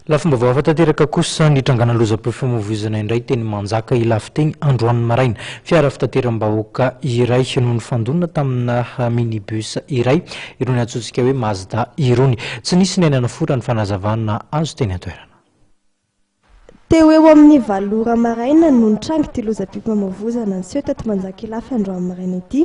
Lafim-baovao hafa tanteraka kosa, nitrangana lozam-pifamoivoizana indray teny Manjaka Ilafiteny androany maraina. Fiara fitateram-bahoaka iray no nifandona tamina minibus iray, irony antsointsika hoe Mazda irony. Tsy nisy ny aina nofo raha ny fanazavana azo teny an-toerana. Teo eo amin'ny valo ora maraina no nitrangy ity lozam-pifamoivoizana niseho teto Manjaka Ilafy androany maraina ity.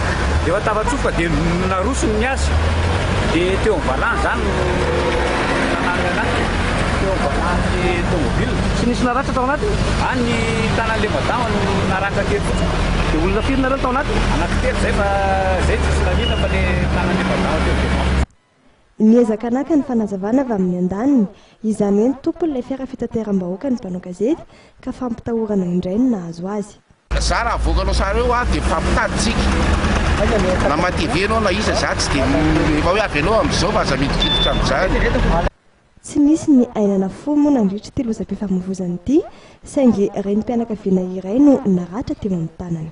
Efa tafatsofoka dia narosony ny azy dia teo amin'ny valany izany no nananany anaty teo amin'ny valan'ilay tomobile. Tsy nisy naratra tao anatiny? A, ny tanan'ilay madama no naratra kely fotsiny. Dia olona firy nareo no tao anatiny? Anankitelo izay fa izay tsisy nanina fa ilay tanan'ilay madama teo dia vaky. Niezaka naka ny fanazavana avy amin'ny andaniny, izany hoe ny tompon'ilay fiara fitateram-bahoaka ny mpanao gazety, ka fampitahorana indray no nahazo azy. Za raha avoakanao sary eo aho dia mpampitady tsika, na ma TV ianao na iza, za tsy dia, efa hoe avy aloha amin'izao fa aza miditriditra amin'izany. Tsy nisy ny aina na fo moa nandritra ity lozam-pifamoivoizana ity, saingy renim-pianakaviana iray no naratra teo amin'ny tanany.